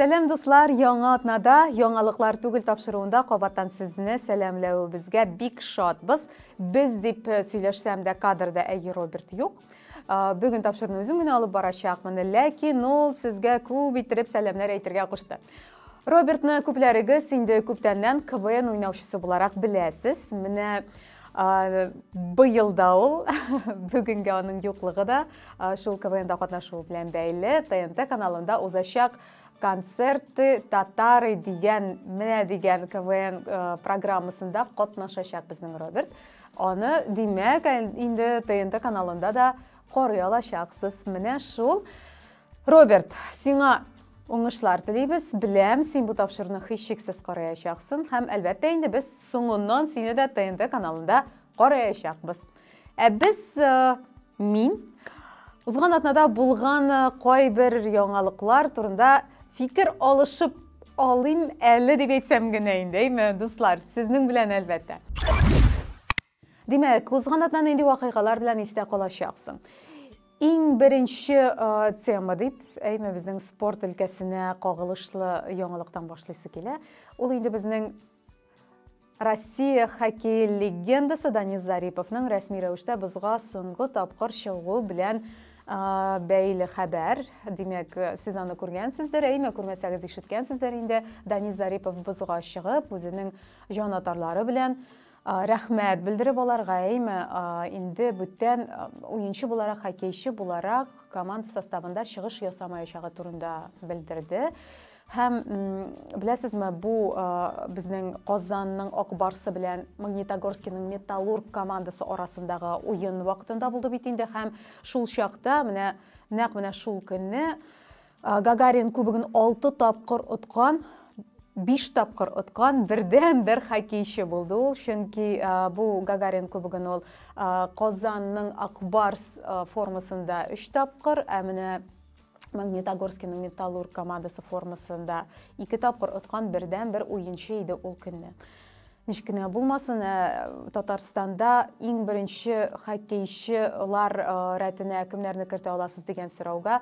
Сәлам дуслар, яңа атнада, яңалыклар түгел тапшыруында кабаттан сезне сәламләвебезгә бик шатбыз. Без дип э, сөйләшсәм дә кадрда әйе Роберт юк. Э, бүген тапшыруны үзем генә алып барачакмын, ләкин ул сезгә күп иттереп сәламнәр әйтергә кушты. Робертны күпләрегез инде күптәннән КВН уйнаучысы буларак беләсез. Менә Быел да ул, бүгенге аның юклыгы да шул КВНда катнашуы белән бәйле ТНТ каналында узачак концерты татары дигән менә дигән КВН э, программасында катнашачак безнең Роберт. Аны, димәк, инде ТНТ каналында да карый алачаксыз. Менә шул Роберт, сиңа Уңышлар телибез. Беләм, син бу тапшыруны һичшиксез караячаксың һәм әлбәттә инде без соңыннан сине дә ТНТ каналында караячакбыз. Ә без э, мин узган атнада булган э, кайбер яңалыклар турында фикер алышып алыйм әле дип әйтсәм генә инде, әйме, дуслар, сезнең белән әлбәттә. Димәк, узган атна нинди вакыйгалар белән истә калачаксың? Иң беренче тема дип, әйме безнең спорт өлкәсенә кагылышлы яңалыктан башлыйсы килә. Ул инде безнең Россия хоккей легендасы Данис Зариповның рәсми рәвештә бозга соңгы тапкыр чыгуы белән бәйле хәбәр. Димәк, сез аны күргәнсездер, әйме күрмәсәгез ишеткәнсездер инде. Данис Зарипов бозга чыгып, үзенең җан атарлары белән Рәхмәт белдереп аларга, әйме, инде бүтән уенчы буларак, хоккейчы буларак команда составында чыгыш ясамаячагы турында белдерде. Һәм беләсезме, бу безнең Казанның Акбарсы белән Магнитогорскиның Металлург командасы арасындагы уен вакытында булды бит инде һәм шул чакта менә нәкъ менә шул көнне Гагарин кубогын алты тапкыр откан, биш тапкыр откан бердән бер хоккейчы булды ул чөнки бу гагарин кубогын ул казанның акбарс формасында өч тапкыр ә менә магнитогорскийның металлург командасы формасында ике тапкыр откан бердән бер уенчы иде ул көнне ничек кенә булмасын ә татарстанда иң беренче хоккейчылар рәтенә кемнәрне кертә аласыз дигән сорауга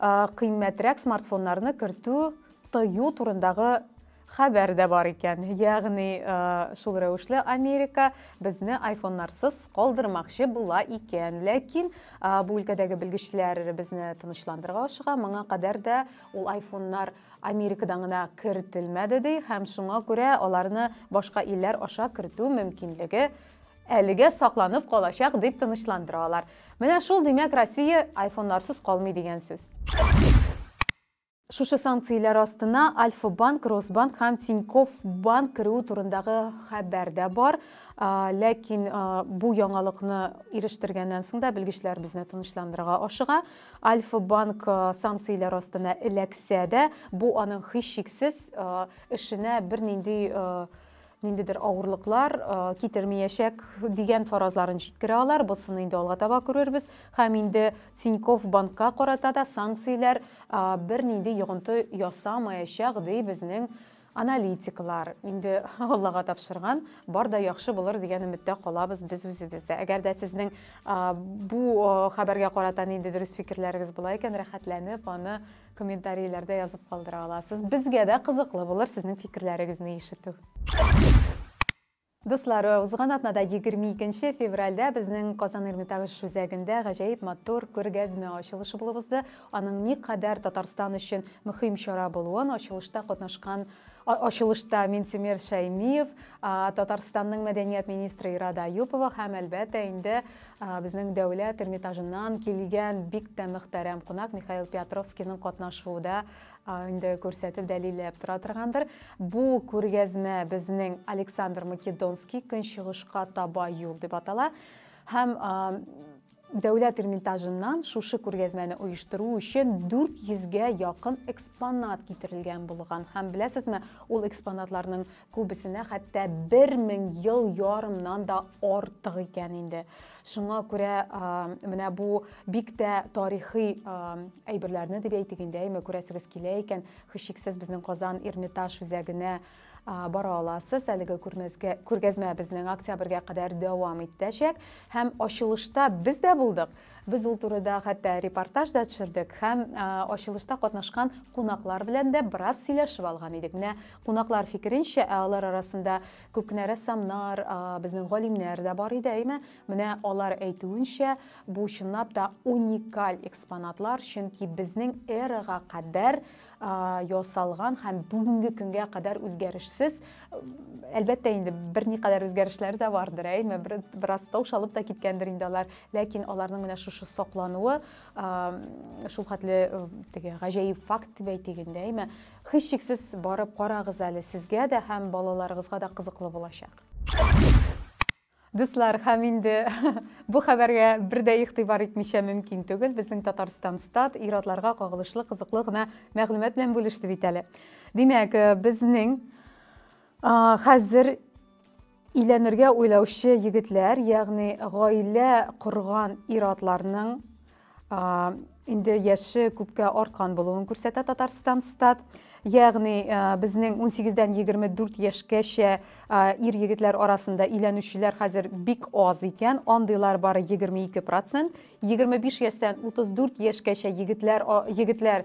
кыйммәтрәк смартфоннарны кертү тыю турындагы хәбәр дә бар икән. Ягъни, шул рәвешле Америка безне айфоннарсыз калдырмакчы була икән. Ләкин бу өлкәдәге белгечләр безне тынычландырырга ашыга. Моңа кадәр дә ул айфоннар Америкадан гына кертелмәде ди һәм шуңа күрә аларны башка илләр аша кертү мөмкинлеге Әлегә сакланып калачак, дип тынычландыра алар. Менә шул, димәк, Россия айфоннарсыз калмый дигән сүз. Шушы санкцияләр астына Альфа-банк, Росбанк һәм Тинькофф банк керүе турындагы хәбәр дә бар. Ләкин бу яңалыкны ирештергәннән соң да белгечләр безне тынычландырырга ашыга. Альфа-банк санкцияләр астына эләксә дә, бу аның һичшиксез эшенә бернинди ниндидер авырлыклар китермиячәк дигән фаразларын җиткерә алар. Бусын инде алга таба күрербез. Һәм инде Тиньков банкка карата да санкцияләр бернинди йогынты ясамаячак, ди безнең аналитиклар. Инде Аллага тапшырган, бар да яхшы булыр дигән өметтә калабыз без үзебез дә. Әгәр дә сезнең бу хәбәргә карата ниндидер үз фикерләрегез була икән, рәхәтләнеп аны Комментарийләрдә язып калдыра аласыз. Безгә дә кызыклы булыр сезнең фикерләрегезне ишетү. Дуслар, узган атнада 22 февральдә безнең Казан Эрмитаж үзәгендә гаҗәеп матур күргәзмә ачылышы булып узды. Аның никадәр Татарстан өчен мөһим чара булуын ачылышта катнашкан ачылышта Минтимер Шәймиев, Татарстанның мәдәният министры Ирада Аюпова һәм, әлбәттә, инде Безнең дәүләт Эрмитажыннан килгән бик тә мөхтәрәм кунак Михаил Пятровскийның катнашуы да инде күрсәтеп дәлилләп тора торгандыр. Бу күргәзмә безнең Александр Македонский көнчыгышка таба юл дип атала һәм Дәүләт Эрмитажыннан шушы күргәзмәне оештыру өчен 400 гә якын экспонат китерелгән булган. Һәм беләсезме, ул экспонатларның Күбесенә хәтта бер мең ел ярымнан да артык икән инде. Шуңа күрә менә бу бик тә тарихи әйберләрне дип әйтик инде, әйме күрәсегез килә икән, хичиксез безнең Казан Эрмитаж үзәгенә бара аласыз. Әлеге күрмәзгә күргәзмә безнең октябрьгә кадәр дәвам итәчәк һәм ачылышта без дә булдык. Без ул турыда хәтта репортаж да төшердек һәм ачылышта катнашкан кунаклар белән дә бераз сөйләшеп алган идек. Менә кунаклар фикеренчә, ә алар арасында күп кенә рәссамнар, безнең галимнәр дә бар иде, әйме? Менә алар әйтүенчә, бу чынлап та уникаль экспонатлар, чөнки безнең эрага кадәр ясалган һәм бүгенге көнгә кадәр үзгәрешсез. Әлбәттә инде берникадәр үзгәрешләр дә бардыр, әйме, бераз таушалып та киткәндер инде алар, ләкин аларның менә шушы саклануы шул хәтле теге гаҗәеп факт дип әйтик инде, әйме. Һичшиксез барып карагыз әле, сезгә дә һәм балаларыгызга да кызыклы булачак. Дуслар, һәм инде бу хәбәргә бер дә игътибар итмичә мөмкин түгел, безнең Татарстан Стат ир-атларга кагылышлы кызыклы гына мәгълүмат белән бүлеште бит әле. Димәк, э, безнең хәзер өйләнергә уйлаучы егетләр, ягъни гаилә корган ир-атларның инде яше күпкә арткан булуын күрсәтә Татарстан стат. Ягъни безнең 18-дән 24 яшькәчә ир егетләр арасында өйләнүчеләр хәзер бик аз икән, андыйлар бары 22 процент. 25 яшьтән 34 яшькәчә егетләр егетләр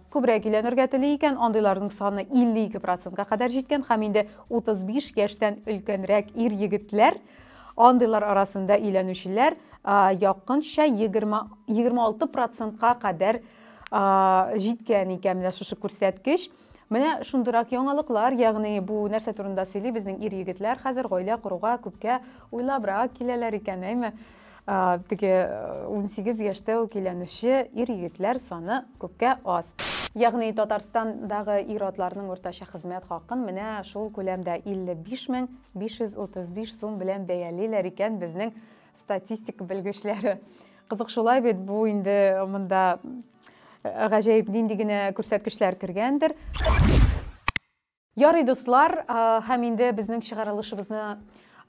күбрәк өйләнергә тели икән, андыйларның саны 52 процентка кадәр җиткән һәм инде 35 яшьтән өлкәнрәк ир егетләр а, Андыйлар арасында өйләнүчеләр якынча 20-26 процентка кадәр җиткән икән менә шушы күрсәткеч. Менә шундырак яңалыклар, ягъни бу нәрсә турында сөйли, безнең ир-егетләр хәзер гаилә коруга күпкә уйлабрак киләләр икән, әйме? Теге 18 яшьтә үк өйләнүче ир-егетләр саны күпкә аз. Ягъни Татарстандагы ир-атларның уртача хезмәт хакын менә шул күләмдә 55 мең 535 сум белән бәялиләр икән безнең статистика белгечләре. Кызык шулай бит, бу инде монда э, гаҗәеп нинди генә күрсәткечләр кергәндер. Ярый, дуслар, э, һәм инде безнең чыгарылышыбызны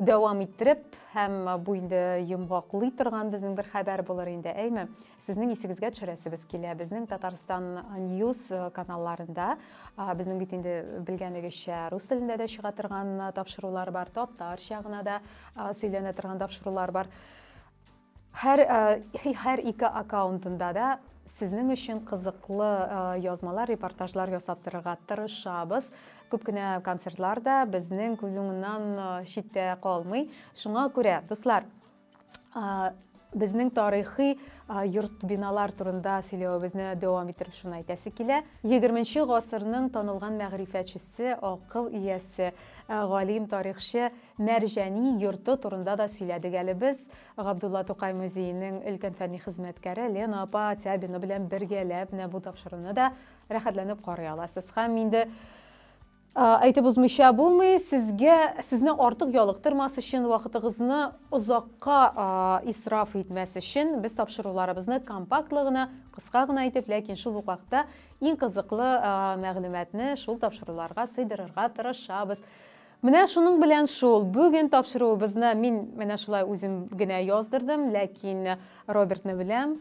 дәвам иттереп, һәм бу инде йомгаклый торган безнең бер хәбәр булыр инде, әйме? Сезнең исегезгә төшерәсебез килә, безнең Татарстан News э, каналларында, безнең бит инде белгәнегезчә рус телендә дә чыга торган э, тапшырулар бар, татарча гына да сөйләнә торган тапшырулар бар. Һәр э, һәр ике аккаунтында да сезнең өчен кызыклы язмалар, репортажлар ясап торырга тырышабыз. Күп кенә концертлар да безнең күз уңыннан читтә калмый. Шуңа күрә, дуслар, безнең тарихи йорт биналар турында сөйләвебезне дәвам иттереп шуны әйтәсе килә. 20 гасырның танылган мәгърифәтчесе, акыл иясе, галим тарихчы Мәрҗани йорты турында да сөйләдек әле без. Габдулла Тукай музееның өлкән фәнни хезмәткәре Лена апа Тябина белән бергәләп менә бу тапшыруны да рәхәтләнеп карый аласыз. Һәм инде Әйтеп узмыйча булмый, сезгә сезне артык ялыктырмас өчен, вакытыгызны озакка исраф итмәс өчен без тапшыруларыбызны компактлы гына, кыска гына итеп, ләкин шул ук вакытта иң кызыклы мәгълүматны шул тапшыруларга сыйдырырга тырышабыз. Менә шуның белән шул. Бүген тапшыруыбызны мин менә шулай үзем генә яздырдым, ләкин Робертны беләм.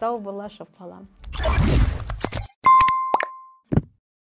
Сау бул, Ашык балам!